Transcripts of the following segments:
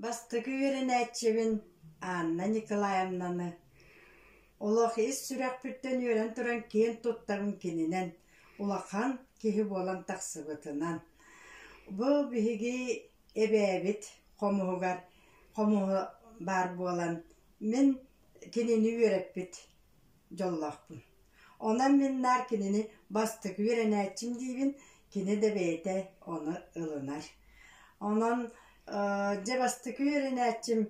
Бастакы үөрэнээччибин Анна Николаевнаны олох ис сүрэхпиттэн үөрэн туран киэн туттарым кининэн улахан киһи буолан тахсыбытынан бу биһиги эбээбит хомуһугар хомуһу баар буолан мин Кинини үөрэппит дьоллоохпун. Онон мин наар кинини бастакы үөрэнээччим диибин, кини да бэйэтэ ону ылынар. Онон э, дьэ бастакы үөрэнээччим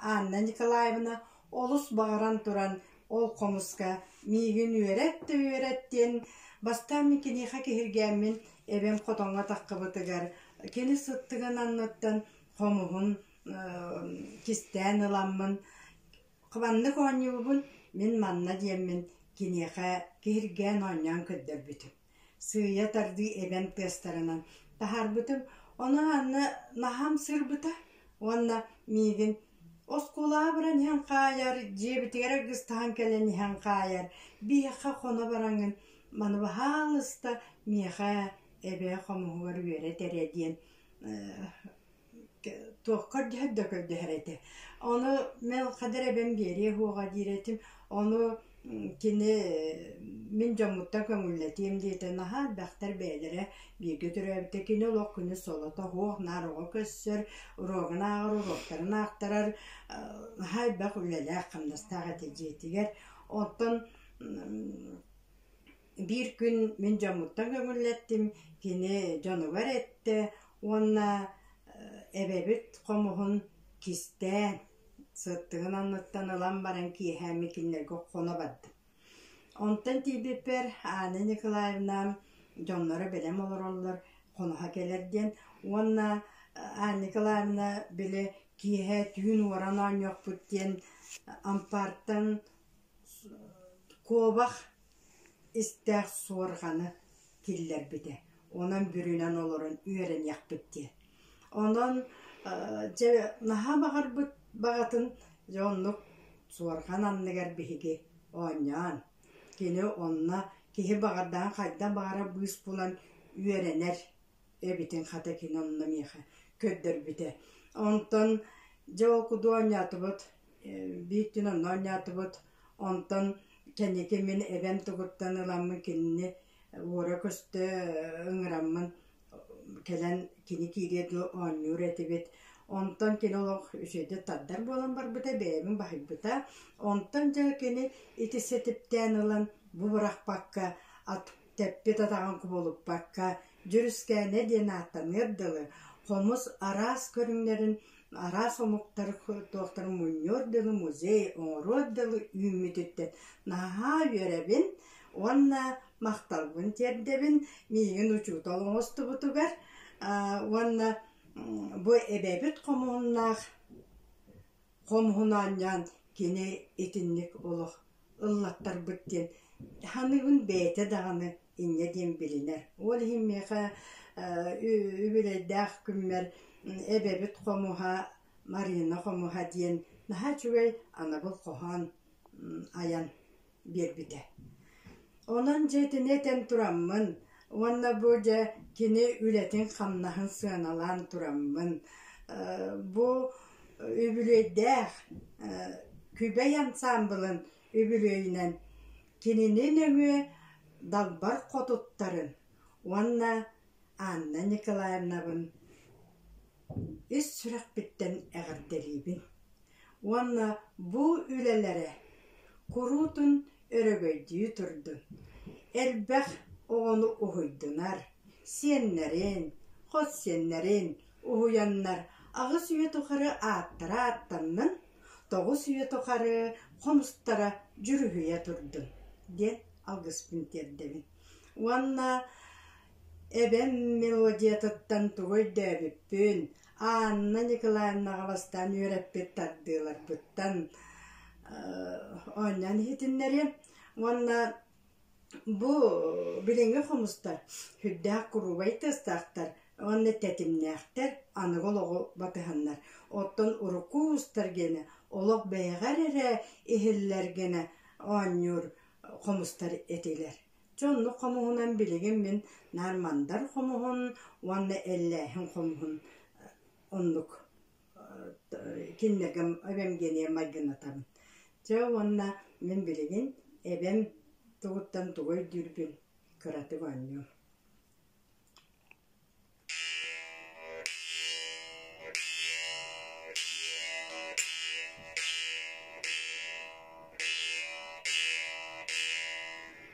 Анна Николаевна олус баҕаран туран ол хомуска миигин үөрэт да үөрэт диэн бастаан мин киниэхэ киһиргээммин эбэм хотоҥҥо таххыбытыгар кини сыттыгын анныттан хомуһун кистээн ыламмын хабаннык оонньуубун мин манна диэммин киниэхэ киһиргээн оонньоон көрдөрбүтүм сыыйа тардыы эбэм тыастарынан таһаарбытым ону анна наһам сырбыта уонна миигин оскулаабыран иһэн хаайар дьиэбитигэр ыргыстаһан кэлэн иһэн хаайар биһиэхэ хоно бараҥын маны баһаалыста миэхэ эбээ хомуһугар үөрэтэрэ диэн туохха кырдьыһар да көрдөһөр этэ. Ону мен хадыр эбэм биэриэ уоҕа диир этим. Ону кини мин дьоммуттан көҥүллэтиэм диэтэ. Наһаа элбэхтэр бэйэлэрэ бииргэ төрөөбүтэ. Кини олох күнүс солото оһуох, наар оҕо көссөр, уруогун ааҕар, уруоктарын аахтарар. Наһаа элбэх үлэлээх, хамнастаах этэ дьиэтигэр. Оттон Биир күн мин дьоммуттан көҥүллэттим, кини дьонугар эттэ уонна эбэбит хомуһун кистэ сыттыгын анныттан ылан баран киэһээmмин кинилэргэ хоно бардым. Онтон тиийбиппэр Аня Николаевна дьонноро бэлэм олороллор хоноһо кэлэр диэн уонна Аня Николаевна били киэһэ түүн уоран оонньуохпут диэн ампаартан куобах Истээх суорҕаны киллэрбитэ, онон бүрүнэн олорон үөрэниэхпит диэн. Онон дьэ наһаа баҕарбыт баҕатын дьэ оннук суорҕан анныгар биһиги оонньоон, кини онно киһи баҕардаҕын хайдах баҕарар быыс булан үөрэнэр эбитин хата кини онно миэхэ көрдөрбүтэ. Онтон дьэ ол курдук оонньоотубут, биир күн онно оонньоотубут, Онтон кэнники мин эбэм тугуттан ыламмын кинини уора көстө ыҥыраммын кэлэн кини киириэ дуо оонньуур этибит. Онтон кини олох үчүгэйдик тардар буолан барбыта, бэйэбин баһыйбыта. Онтон дьэ кини ити ситиптээн ылан бу бырахпакка, ат тэппит атаҕын кубулуппакка, Дьүрүскээнэ диэн ааттаныар дылы хомус араас көрүҥнэрин Араас омуктар туохтара мунньуор дылы музей, оҥоруор дылы үүммүтүттэн наһаа үөрэбин уонна махталбын тиэрдэбин миигин учуутал оҥостубутугар уонна бу эбэбит хомуһуннаах хомуһун оонньоон кини итинник олох ыллаттарбыт диэн саныыбын бэйэтэ даҕаны инньэ диэн билинэр. Ол иһин миэхэ үбүлэйдээх күммэр эбэбит хомуһа Марина хомуһа диэн наһаа үчүгэй анабыл хоһоон айан биэрбитэ. Онон дьэ итини этэн тураммын уонна бу дьэ кини үлэтин-хамнаһын сыаналаан тураммын бу үбүлүөйдээх Күбэй ансаамбылын үбүлүөйүнэн кинини нөҥүө Далбар Хотуттарын уонна Анна Николаевнабын ис сүрэхпиттэн эҕэрдэлиибин уонна бу үлэлэрэ куруутун өрөгөйдүү турдун, элбэх оҕону уһуйдунар, сиэннэрин, хос сиэннэрин уһуйаннар аҕыс үйэ тухары ааттара ааттаннын, Тоҕус үйэ тухары хом устара дьүрүһүйэ турдун диэн алгыспын тиэрдэбин уонна эбэм мелодиятыттан тугу өйдөөбүппүн Анна Николаевнаҕа бастаан үөрэппит тардыыларбыттан оонньоон иһитиннэриэм уонна Бу билиҥҥи хомустар сүрдээх куруубай тыастаахтар уонна тэтимнээхтэр, аныгы олоҕу батыһаннар. Оттон урукку уустар гиэнэ олох бэйэҕэр эрэ иһиллэргинэ оонньуур хомустар этилэр. Чэ оннук хомуһунан билигин мин наар мандар хомуһун уонна эллээһин хомуһун оннук. Кинилэргэ эбэм диэни майгыннатабын. Чэ уонна мин билигин эбэм тугуттан тугу өйдүүрбүн кыратык оонньуом